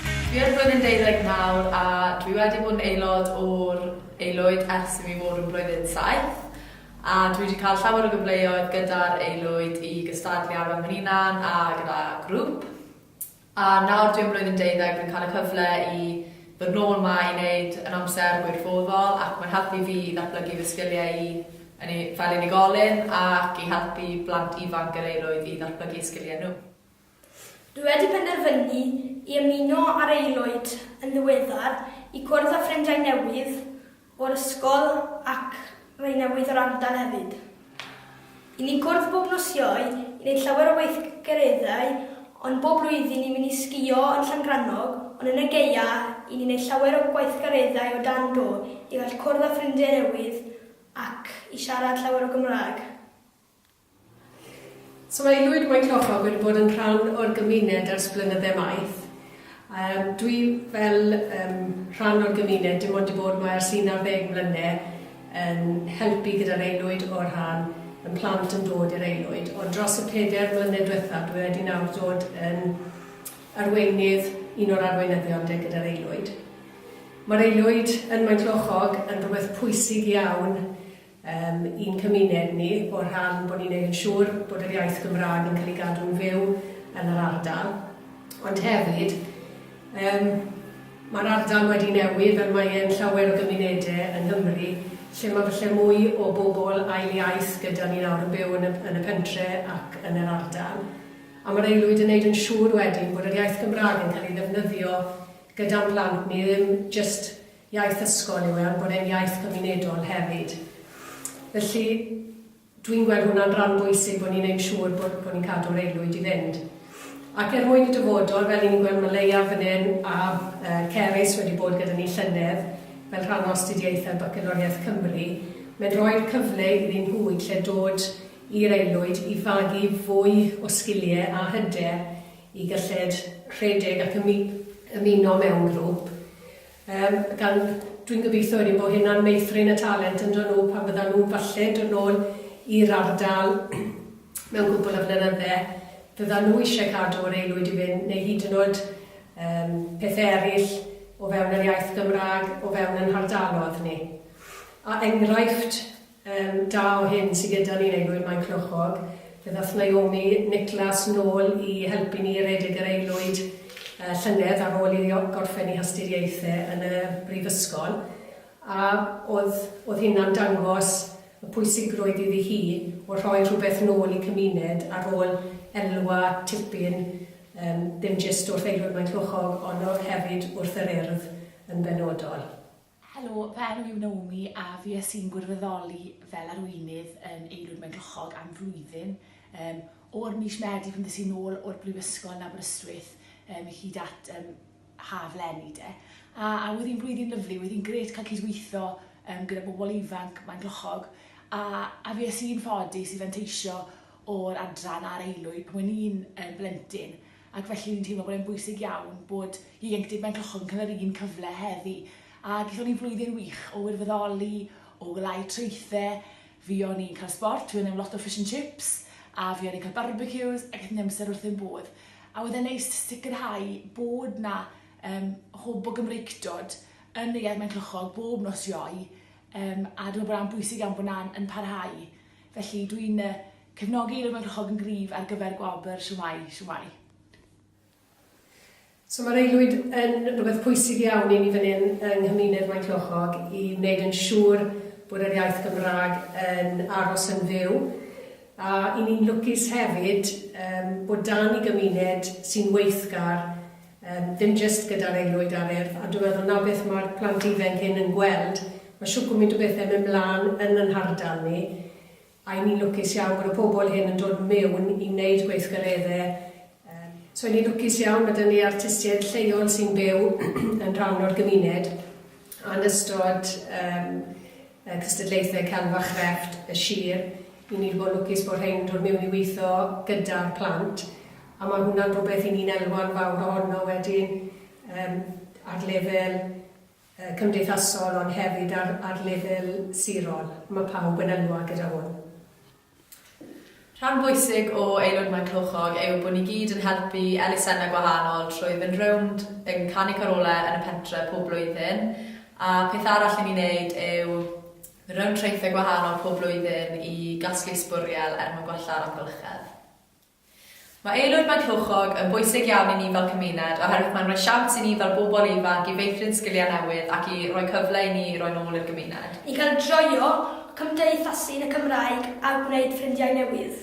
Fi ar flwyddyn deuddeg nawr a dwi wedi bod yn aelod o'r Aelwyd ers i mi fod yn blwyddyn saith a dwi wedi cael llawer o gyfleoedd gyda'r Aelwyd i gystadlu ar fy mhen-hunan a gyda grŵp a nawr dwi yn blwyddyn deuddeg dwi'n cael y cyfle i ddod nôl 'ma i wneud yn amser gwirfoddol ac mae'n helpu fi i ddatblygu fy sgiliau i yn fel unigolyn ac i helpu plant ifanc yr Aelwyd i ddatblygu sgiliau nhw. Dwi wedi penderfynu i ymuno â'r aelwyd yn ddiweddar i gwrdd â ffrindiau newydd o'r ysgol ac rhai newydd o'r ardal hefyd. Y'n ni'n cwrdd bob nos Iau i wneud llawer o weithgareddau ond bob blwyddyn ni'n mynd i sgïo yn Llangrannog ond yn y gaea y'n ni'n neud llawer o gweithgareddau o dan do i gall cwrdd â ffrindiau newydd ac i siarad llawer o Gymraeg. Sylweddwyd mai Clochog wedi bod yn rhan o'r gymuned ers blynydde maith. Yym dwi fel yym rhan o'r gymuned dim ond 'di bod 'ma ers un ar ddeg mlyne yn helpu gyda'r aelwyd o rhan yn plant yn dod i'r aelwyd ond dros y peder mlynedd dwetha dwi wedi nawr dod yn arweinydd un o'r arweinyddion 'de gyda'r aelwyd. Ma'r aelwyd yn Maenclochog yn rwbeth pwysig iawn Yym, i'n cymuned ni, o'r rhan bod ni'n neud yn siŵr bod yr iaith Gymraeg yn cael ei gadw'n fyw yn yr ardal. Ond hefyd, yym, mae'r ardal wedi newid fel mae e'n llawer o gymunede yng Nghymru, lle mae falle mwy o bobl ail iaith gyda ni nawr yn byw yn y yn y pentre ac yn yr ardal. A mae'r aelwyd yn neud yn siŵr wedyn bod yr iaith Gymraeg yn cael ei ddefnyddio gyda'n plant ni, ddim jyst iaith ysgol yw e, ond bod e'n iaith gymunedol hefyd. Felly, dwi'n gweld hwnna'n ran bwysig bod ni'n ein siŵr bod, bod ni'n cadw'r aelwyd i fynd. Ac er mwyn y dyfodol, fel ni'n gweld mae Leia fan hyn a uh, Cerys wedi bod gyda ni llynedd fel rhan o astudiaethau Bacaloriaeth Cymru, mae'n rhoi'r cyfle iddyn nhw i lle dod i'r aelwyd i fagu fwy o sgiliau a hyder i gyllid rhedeg ac ymuno mewn grŵp Yym, gan, dwi'n gobeithio wedyn bod hynna'n meithrin y talent ynddo nhw pan fyddan nhw'n falle dod nôl i'r ardal mewn cwpl o flynydde, fyddan nhw eisiau cadw yr aelwyd i fynd, neu hyd yn oed yym pethe eraill o fewn yr iaith Gymraeg o fewn ein hardalodd ni. A enghraifft Yn da o hyn sy gyda ni neu gwir mae'n cnochog. Fe ddath Naomi Nicholas nôl i helpu ni i redeg yr aelwyd y llynedd ar ôl iddi gorffen ei hastudiaethe yn y brifysgol a oedd oedd hynna'n dangos y pwysigrwydd iddi hi o rhoi rhywbeth nôl i cymuned ar ôl elwa tipyn yym ddim jyst wrth aelwyd Maenclochog ond o hefyd wrth yr Urdd yn benodol. Helo, fy enw yw Naomi a fues i'n gwirfoddoli fel arweinydd yn Eirwyd Maenclochog am flwyddyn. Um, o'r mis Medi pan ddys i'n ôl o'r Brifysgol yn Aberystwyth um, hyd at um, haf lenni de. A, a oedd hi'n blwyddyn lyflu, oedd hi'n gret cael cydweithio um, gyda bobl ifanc mae'n glochog. A, a fi es i'n ffodus i fanteisio o'r adran a'r eilwyd pan o'n i'n um, blentyn. ac felly o'n i'n teimlo bod e'n bwysig iawn bod ieuenctid mewn cylchoedd yn cael yr un cyfle heddi. A gaethon ni flwyddyn wych o wirfoddoli, o wlau traethe, fi o'n i'n cael sbort, fi o'n i'n lot o fish and chips, a fi o'n i'n cael barbecues, a gaethon ni amser wrth ein bodd. A oedd e'n neis sicrhau bod na um, hwb o Gymreictod yn y iaith mewn cylchog bob nos ioe, um, a dwi'n bod a'n bwysig iawn bod na'n yn parhau. Felly dwi'n uh, Cefnogi rhywun rhag yn gryf ar gyfer gwobr Shwmae! Shwmae! So mae'r aelwyd yn rhywbeth pwysig iawn i ni fan hyn yng nghymuned Maenclochog i wneud yn siŵr bod yr iaith Gymraeg yn aros yn fyw a i ni'n lwcus hefyd yym bod dan ni gymuned sy'n weithgar yym ddim jyst gyda'r aelwyd a'r Urdd a dwi'n meddwl 'na beth mae'r plant ifainc hyn yn gweld, mae shwt gwmynt o bethe yn mynd mlan yn yn hardal ni Ry' ni'n lwcus iawn bod y pobl hyn yn dod mewn i wneud gweithgareddau yym. Ry' ni'n lwcus iawn ma' 'da ni artistiaid lleol sy'n byw yn rhan o'r gymuned a'n ystod yym y cystadlaethau celf a chrefft y sir, 'y ni 'di bod yn lwcus bod rhein yn dod mewn i weithio gyda'r plant a ma' hwnna'n rhywbeth 'y ni'n elwa'n fawr ohono wedyn yym ar lefel cymdeithasol ond hefyd ar ar lefel sirol, mae pawb yn elwa gyda hwn. Rhan bwysig o Aelod Maen Clwchog yw bod ni gyd yn helpu elusennau gwahanol trwy fynd rownd yn canu carolau yn y pentre pob blwyddyn a peth arall i ni wneud yw mynd rownd traethau gwahanol pob blwyddyn i gasglu sbwriel er mwyn gwella'r amgylchedd. Mae Aelwyd Maenclochog yn bwysig iawn i ni fel cymuned oherwydd mae'n rhoi siawns i ni fel bobl ifanc i feithrin sgiliau newydd ac i roi cyfle i ni i roi'n ôl i'r gymuned. I gael joio cymdeithasu yn y Gymraeg a gwneud ffrindiau newydd.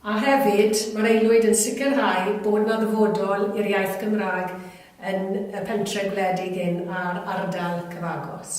A hefyd, mae'r Aelwyd yn sicrhau bod 'na ddyfodol i'r iaith Gymraeg yn y pentre' gwledig hyn a'r ardal cyfagos.